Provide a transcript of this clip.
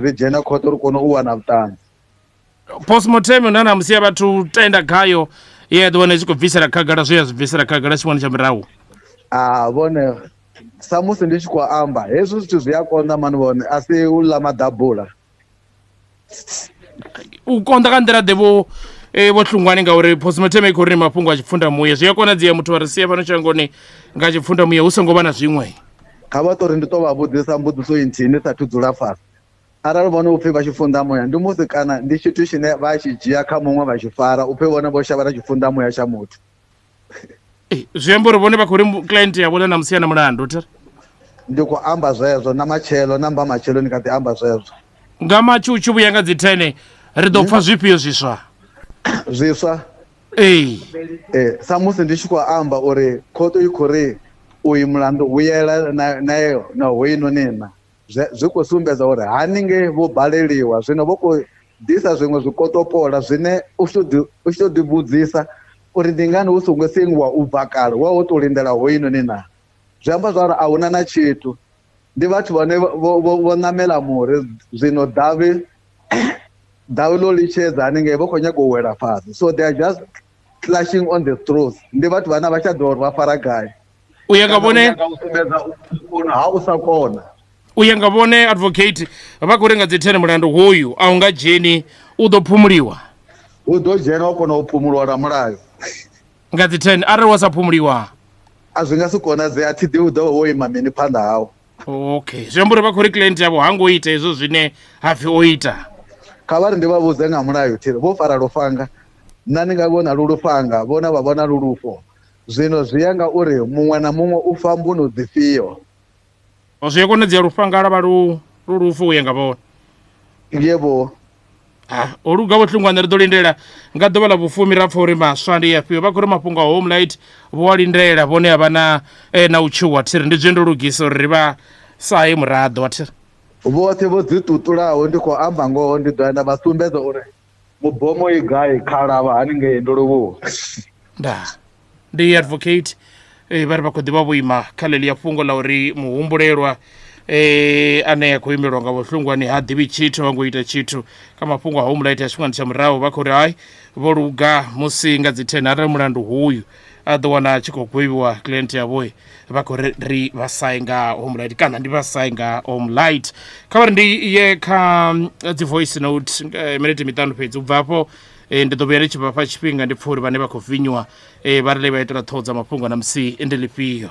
ri dzhena khothe uri kone u wana vhuṱanzi postmortem na na musi ya vhathu tenda khayo ye ya ḓi wana i tshi khou bvisela khagala zwe ya zwi bvisela khagala tshifhingani tsha murahu a vhone samusi ndi tshi khou amba hezwi zwithu zwi a konḓa mani vhone a si u ḽa maḓabula u konḓa ka nḓila ḓe vho eh, vho hlungwani ngauri postmortem i khou ri ni mafhungo a tshipfundamuya zwi a konadzea muthu a ri sia fhano shangoni nga tshipfundamuya hu songo vha na zwiṅwe kha vha ṱori ndi to vha vhudzisa mbudziso inthihi ndi sathu dzula fhasi arali vhone upfhi vha tshi funḓa muya ndi musi kana ndi tshithu tshine vha tshi dzhia kha muṅwe vha tshi fara upfhi vhone vho shavha na tshi funḓa muya tsha muthu eh, zwi amba uri vhone vha khou ri client ya vhone na musi na mulandu thera ndi khou amba zwezwo na matshelo na mba matshelo ni kha ḓi amba zwezwo nga matshu u tshi vhuya nga dzi thene ri ḓo pfha hmm? zwifhio zwiswa zwiswa ee eh, samusi ndi tshi khou amba uri khoto i khou ri uyu mulandu vhuyela nayo na hoyinoni na zwi khou sumbedza uri haningei vho baleliwa zwino vho khou ḓisa zwiṅwe zwikotopola zwine u tshi tou ḓivhudzisa uri ndi ngani hu songo sengiwa u bva kale wa wo tou lindela hoyinoni na zwi amba zwa uri a huna na tshithu ndi vhathu vhane vho ṋamela muri zwino davhi davhi ḽo litshedza haningei vho khou nyaga u wela fhasi so they are just clashing on the throws ndi vhathu vhane vha tsha ḓivha uri vha fara gai u ya nga vhone ha u sa kona u ya nga vhone advocate vha khou renga dzi thene mulandu hoyu a u nga dzheni u ḓo phumuliwa u ḓo dzhena wa kona u phumuliwa na mulayo nga dzi 10 arali wa sa phumuliwa a zwi nga si konadzee a thi ḓi u ḓo wo ima mini phanḓa hawo okay zwi amba uri vha khou ri client yavho ha ngo ita hezwo zwine ha pfhi o ita kha vha ri ndi vha vhudze nga mulayo thiri vho fara lufhanga nna ni nga vhona lu lufhanga vhona vha vhona lu lufho zwino zwi ya nga uri muṅwe na muṅwe u fa mbuno dzifhio Zwi a konadzea lufhanga lwa vha lu lu lufu u ya nga vhone. Yebo. Ah, ho luga vho tlungwana ri ḓo lindela nga ḓuvha ḽa vhufumi ra pfa uri maswa ndi afhio vha khou ri mafhungo a home light vho a lindela vhone a vha na eh, na u tshuwa thiri ndi zwe ndo lugisa uri ri vha sahe muraḓo wa thiri Vhoṱhe vho ḓiṱuṱulaho ndi khou amba ngoho ndi ḓo ya nda vha sumbedza uri mubomo i gai khalavha haningei ndoluvhuwa nda ndi advocate eh, vha ri vha khou ḓivha vhuima kha ḽeḽia fhungo ḽa uri muhumbulelwa eh, ane a khou imelwa nga vhohlungwani ha ḓivhi tshithu ha ngo ita tshithu kha mafhungo a home light a tshifhingani tsha murahu vha khou ri hai vho luga musi nga dzi 10 arali mulandu huyu a ḓo wana a tshi khou gwevhiwa client yavho vha khou ri ri vha sai nga home light kana ndi vha sai nga home light kha vha ri ndi ye kha eh, dzi voice note eh, minete miṱanu fhedzi u bva hafho eh, ndi ḓo vhuya ndi tshi vhafha tshifhinga ndi pfha uri vhane vha khou vinywa vha ri le vha itela ṱhoho dza mafhungo na musi ndi lifhio